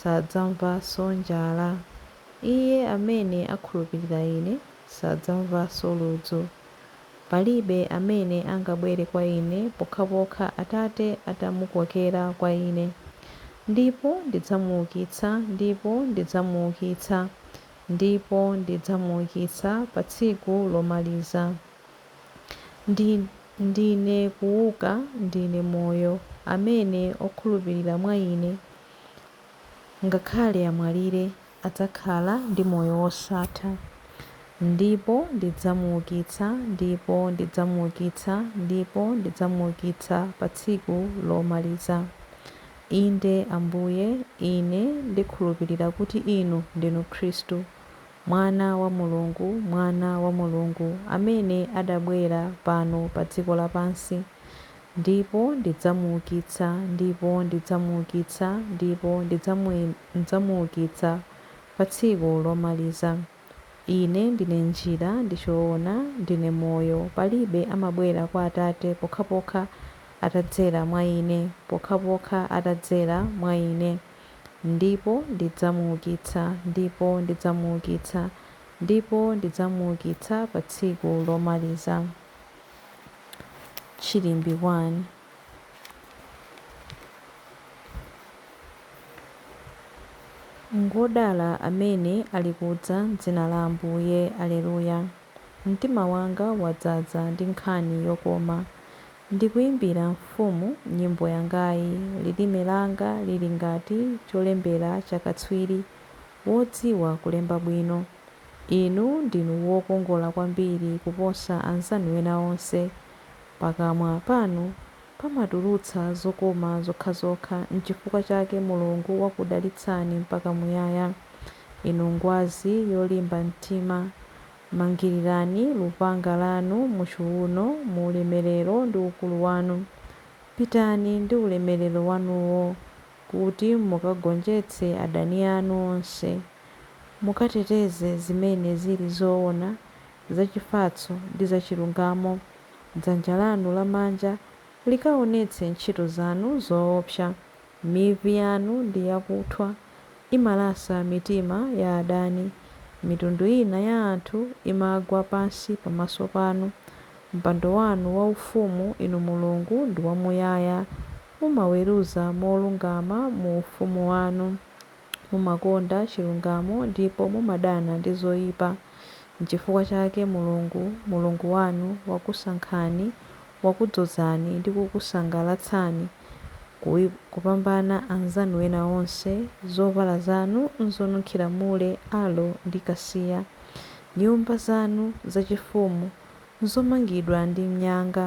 sadzamvanso njala. Iye amene akhulupirira Ine sadzamvanso ludzu. Palibe amene angabwere kwa Ine pokhapokha Atate atamukokera kwa Ine. Ndipo ndidzamuukitsa ndipo ndidzamuukitsa ndipo ndidzamuukitsa pa tsiku lomaliza. Ndine kuuka, Ndine Moyo. Amene okhulupirira mwa Ine, Ngakhale amwalire, adzakhala ndi moyo wosatha. Ndipo ndidzamuukitsa, ndipo ndidzamuukitsa, ndipo ndidzamuukitsa pa tsiku lomaliza. Inde, Ambuye, ine ndikhulupirira kuti Inu ndinu Khristu, Mwana wa Mulungu, Mwana wa Mulungu, amene adabwera pano pa dziko lapansi. Ndipo ndidzamuukitsa, ndipo ndidzamuukitsa, ndipo ndidzamuukitsa pa tsiku lomaliza. Ine ndine njira, ndi choona, ndine moyo, palibe amabwera kwa Atate pokhapokha atadzera mwa ine, pokhapokha atadzera mwa ine. Ndipo ndidzamuukitsa, ndipo ndidzamuukitsa, ndipo ndidzamuukitsa pa tsiku lomaliza. Chilimbi 1. Ngodala amene alikudza m'dzina la Ambuye. Aleluya. Mtima wanga wadzaza ndi nkhani yokoma. Ndikuimbira Mfumu nyimbo yangayi, lilime langa lili ngati cholembera cha katswiri wodziwa kulemba bwino. Inu ndinu wokongola kwambiri kuposa anzanu ena onse. Pakamwa panu pamatulutsa zokoma zokhazokha, n'chifukwa chake Mulungu wakudalitsani mpaka muyaya. Inu ngwazi yolimba mtima, mangirirani lupanga lanu muchiuno mu ulemerero ndi ukulu wanu. Pitani ndi ulemerero wanuwo. kuti mukagonjetse adani anu onse, mukateteze zimene zili zoona, zachifatso ndi zachilungamo, dzanja lanu lamanja likaonetse ntchito zanu zoopsa, mivi yanu ndi yakuthwa imalasa mitima ya adani, mitundu ina ya anthu imagwa pansi pamaso panu. Mpando wanu waufumu, inu Mulungu, ndi wamuyaya. Mumaweruza molungama mu ufumu wanu. Mumakonda chilungamo ndipo mumadana ndi zoipa. N'chifukwa chake Mulungu, Mulungu wanu, wakusankhani, wakudzozani ndi kukusangalatsani kupambana anzanu ena onse. Zovala zanu n'zonunkhira mule, aloe ndi kasiya. Nyumba zanu zachifumu n'zomangidwa ndi mnyanga,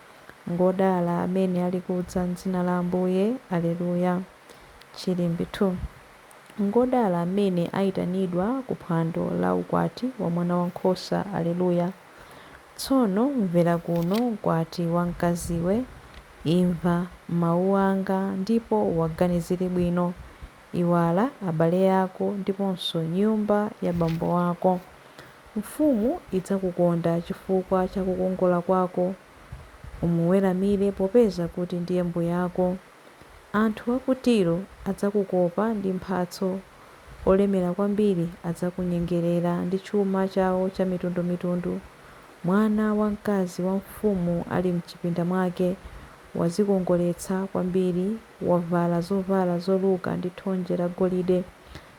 Ngodala amene alikudza m'dzina la Ambuye. Aleluya. Chilimbi 2. Ngodala amene ayitanidwa ku phwando la ukwati wa mwana wa nkhosa. Aleluya. Tsono mvera kuno, mkwati wamkaziwe, imva mau anga ndipo uwaganizire bwino. Iwala abale ako ndiponso nyumba ya bambo ako. Mfumu idzakukonda chifukwa cha kukongola kwako. Umuweramire popeza kuti ndiye mbuyako. Anthu a ku Tiro adzakukopa ndi mphatso, olemera kwambiri adzakunyengerera ndi chuma chawo chamitundumitundu. Mwana wamkazi wa mfumu ali m'chipinda mwake, wadzikongoletsa kwambiri. wavala zovala zoluka ndi thonje lagolide,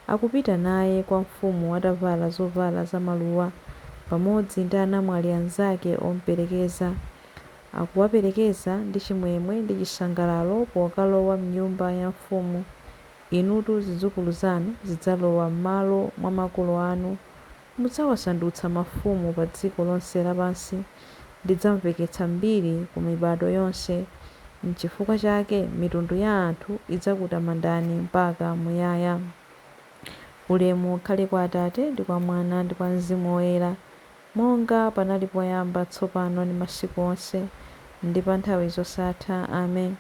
akupita naye kwa mfumu atavala zovala zamaluwa, pamodzi ndi anamwali anzake omuperekeza, akuwaperekeza ndi chimwemwe ndi chisangalalo pokalowa m'nyumba ya mfumu. Inutu zidzukulu zanu zidzalowa m'malo mwa makolo anu Mudzawasandutsa mafumu pa dziko lonse lapansi, ndidzamveketsa mbiri ku mibado yonse, n'chifukwa chake mitundu ya anthu idzakutamandani mpaka muyaya. Ulemu ukhale kwa Atate, ndi kwa Mwana, ndi kwa Mzimu Woyera, monga panali poyamba, tsopano, ndi masiku onse, ndi pa nthawi zosatha. Amen.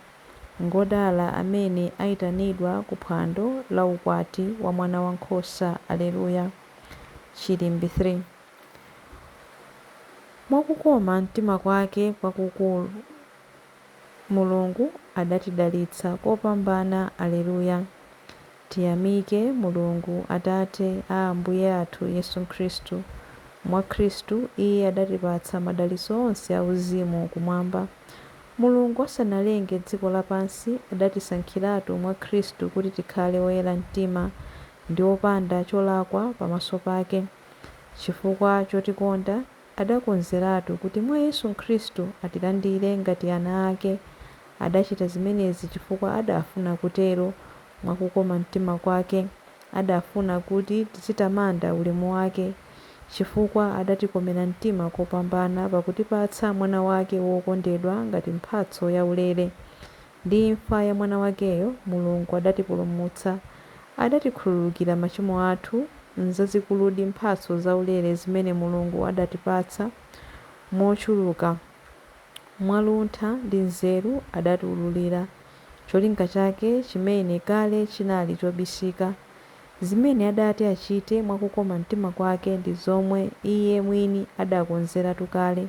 Ngodala amene aitanidwa ku phwando la ukwati wa Mwanawankhosa. Aleluya. Chilimbi 3. Mwa kukoma mtima kwake kwakukulu, Mulungu adatidalitsa kopambana Aleluya, Tiyamike Mulungu Atate a Ambuye athu Yesu Khristu, Mwa Khristu Iye adatipatsa madalitso onse auzimu Kumwamba. Mulungu asanalenge dziko lapansi, adatisankhiratu mwa Khristu kuti tikhale oyera mtima ndi opanda cholakwa pamaso pake. Chifukwa chotikonda, adakonzeratu kuti mwa Yesu Khristu atilandire ngati ana ake. Adachita zimenezi chifukwa adaafuna kutero, mwa kukoma mtima kwake. Adaafuna kuti tizitamanda ulemu wake, chifukwa adatikomera mtima kopambana pakutipatsa Mwana wake wokondedwa ngati mphatso yaulere. Ndi imfa ya Mwana wakeyo, Mulungu adatipulumutsa. Adatikhululukira machimo athu. Nzazikuludi mphatso zaulere zimene Mulungu adatipatsa mochuluka! Mwa luntha ndi nzeru adatiwululira cholinga chake chimene kale chinali chobisika. Zimene adati achite mwa kukoma mtima kwake ndi zomwe Iye mwini adakonzeratu kale.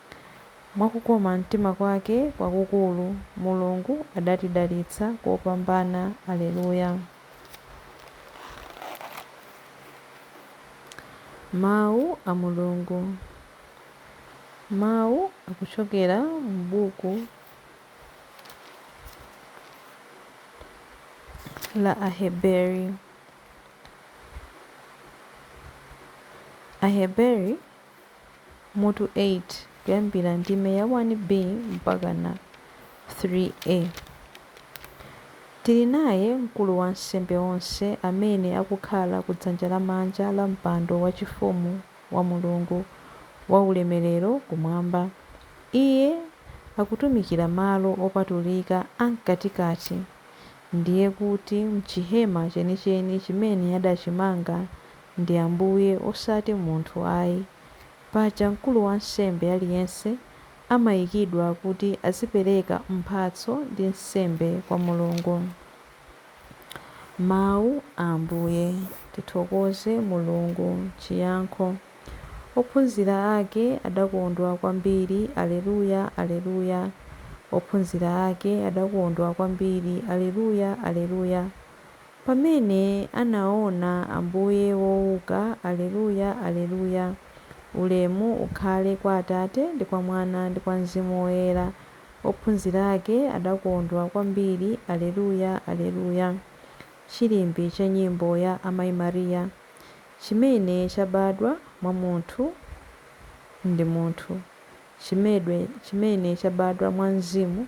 Mwa kukoma mtima kwake kwakukulu, Mulungu adatidalitsa kopambana. Alleluia. Mau a Mulungu Mau akuchokera m'buku la Aheberi. Aheberi mutu 8, kuyambira ndime ya 1B mpakana 3A. Tili naye Mkulu wansembe onse amene akukhala ku dzanja lamanja la mpando wachifumu wa Mulungu waulemerero kumwamba. Iye akutumikira malo opatulika am'katikati, ndiye kuti m'chihema chenicheni chimene adachimanga ndi Ambuye osati munthu ayi. Paja mkulu wansembe aliyense amayikidwa kuti azipereka mphatso ndi nsembe kwa Mulungu. Mawu a Ambuye. Tithokoze Mulungu. Chiyankho Ophunzira ake adakondwa kwambiri Alleluia, Alleluia, Ophunzira ake adakondwa kwambiri Alleluia, Alleluia. Pamene anaona Ambuye wouka, Aleluya, Aleluya, Ulemu ukhale kwa Atate, ndi kwa Mwana, ndi kwa Mzimu Woyera, ophunzira ake adakondwa kwambiri, Aleluya, Aleluya, Chilimbi cha nyimbo ya Amai Maria, Chimene chabadwa mwa munthu ndi munthu, Chi chimene chabadwa mwa Mzimu,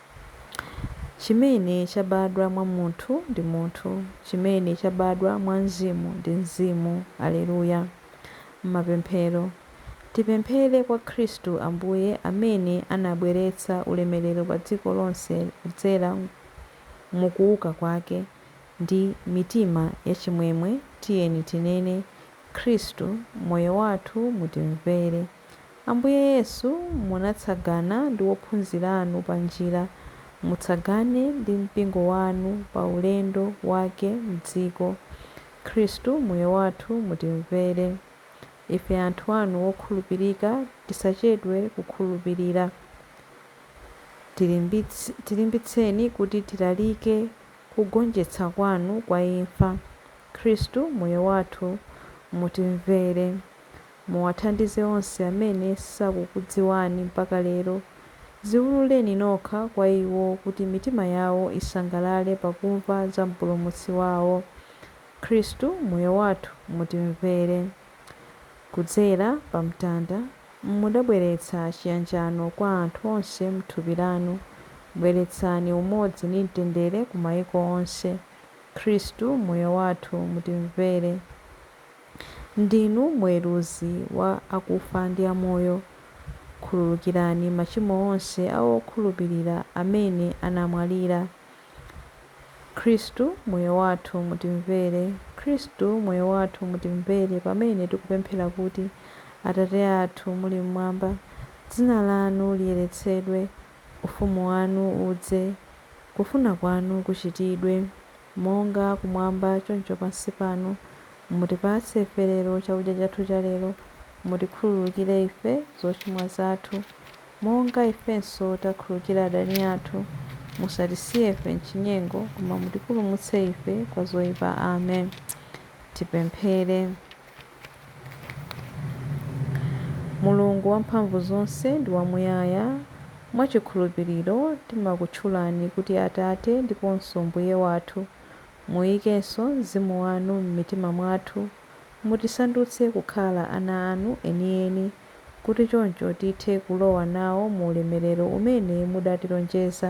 Chimene chabadwa mwa munthu ndi munthu, chimene chabadwa mwa Mzimu ndi mzimu. Aleluya! Mapemphero, tipemphere kwa Khristu Ambuye amene anabweretsa ulemerero pa dziko lonse kudzera mu kuuka Kwake, ndi mitima yachimwemwe tiyeni tinene, Khristu, moyo wathu mutimvere. Ambuye Yesu, munatsagana ndi ophunzira anu panjira, mutsagane ndi mpingo wanu pa ulendo wake m'dziko. Khristu, Moyo wathu, mutimvere. Ife anthu anu okhulupirika tisachedwe kukhulupirira. Tilimbitseni kuti tilalike kugonjetsa kwanu kwa imfa. Khristu, Moyo wathu, mutimvere. Muwathandize onse amene sakukudziwani mpaka lero. Dziwululeni nokha kwa iwo kuti mitima yawo isangalale pakumva za Mpulumutsi wawo, Khristu Moyo wathu. Mutimvere. Kudzera pa mtanda, mudabweretsa chiyanjano kwa anthu onse m'thupi lanu. Bweretsani umodzi ndi mtendere ku maiko onse. Khristu Moyo wathu. Mutimvere. Ndinu muweruzi wa akufa ndi amoyo. Khululukirani machimo onse a okhulupilira amene anamwalira. Khristu, Moyo Wathu, Mutimvere. Khristu, Moyo Wathu, Mutimvere pamene tikupemphera kuti, Atate athu muli m'mwamba, dzina lanu liyeretsedwe, ufumu wanu udze, kufuna kwanu kuchitidwe. Monga kumwamba, choncho pansi pano, mutipatse ife lero chakudya chathu cha lero, mutikhululukire ife zochimwa zathu, monga ifenso takhululukira adani athu, musatisiye ife m'chinyengo, koma mutipulumutse ife kwa zoipa. Amen. Tipemphere. Mulungu Wamphamvuzonse ndi wamuyaya, mwa chikhulupiriro timakutchulani kuti Atate ndiponso Mbuye wathu. Muikenso mzimu wanu m'mitima mwathu, mutisandutse kukhala ana anu enieni, kuti choncho tithe kulowa nawo mu ulemerero umene mudatilonjeza,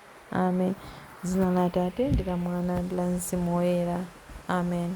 Amen. Dzina la Atate, ndi la Mwana, ndi la Mzimu Woyera. Amen.